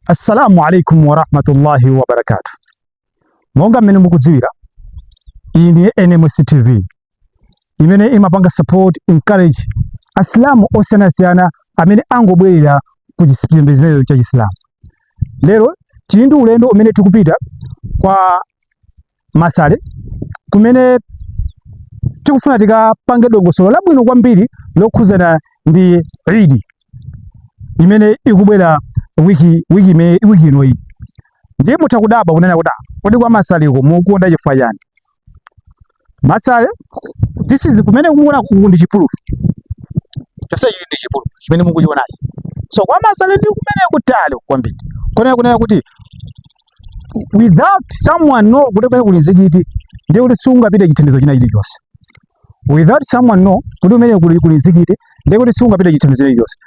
Assalamu alaikum warahmatullahi wabarakatu. Monga mmene mukudziwira, iyi ndi NMS TV imene imapanga support encourage asilamu osiyanasiyana amene angobwerera ku chipembedzo cha Chisilamu. Lero tili ndi ulendo umene tikupita kwa Masale kumene tikufuna tikapange dongosolo labwino kwambiri lokhudzana ndi Eid imene ikubwera wiki wiki ime- wiki ino iyi ndiye mutha kudabwa kunena kuti "Ah, kodi kwa Masaleko mukukonda chifukwa chani Masale this is kumene mukuona kuku ndi chipululu chonse chili ndi chipululu chimene mukuchionachi so kwa Masale ndi kumene kutali kwambiri konena kunena kuti without someone know kuti kumene kuli nzikiti ndiye kuti siungapite chithandizo china chilichonse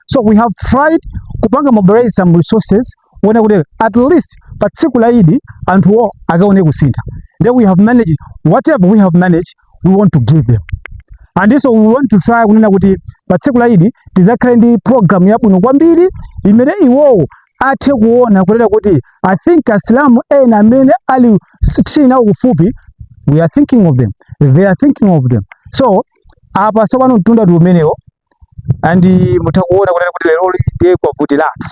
so we have tried kupanga mobilize some resources kuona kuti at least pa tsiku la idi anthuwo akaone kusintha then we have managed whatever we have managed we want to give them and so we want to try kunena kuti pa tsiku la idi tizakhale ndi program yabwino kwambiri imene iwowo athe kuona kunena kuti i think asilamu ena amene ali tili nawo kufupi we are thinking of them they are thinking of them so apa tsopano mtunda ndi umenewo and mutha kuona kunena kuti leroli ndiye kwavutiratu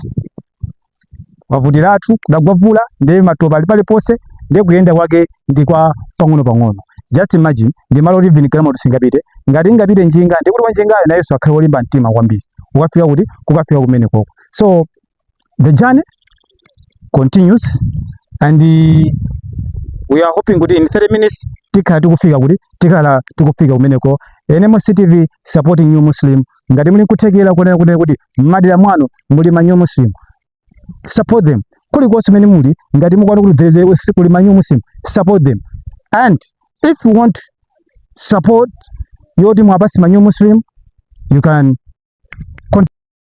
kwavutiratu kudagwa mvula ndiye matopa ali paliponse ndiye kuyenda kwake ndi kwa pang'ono pang'ono just imagine ndi malo kuti vini galimoto singapite ngati ingapite njinga ndi kuti wanjingayo nayenso akhale wolimba mtima kwambiri ukafika kuti kukafika kumene koko so the journey continues and we are hoping kuti in 30 minutes tikhala tikufika kuti tikhala tikufika kumeneko NMS TV supporting new muslim ngati muli nkuthekera kunena kunena kuti mmadera mwanu muli ma new muslim support them kuli konse mene muli ngati mukuona kuti there is a kuli ma new muslim support them and if you want support yoti muwapatse ma new muslim you can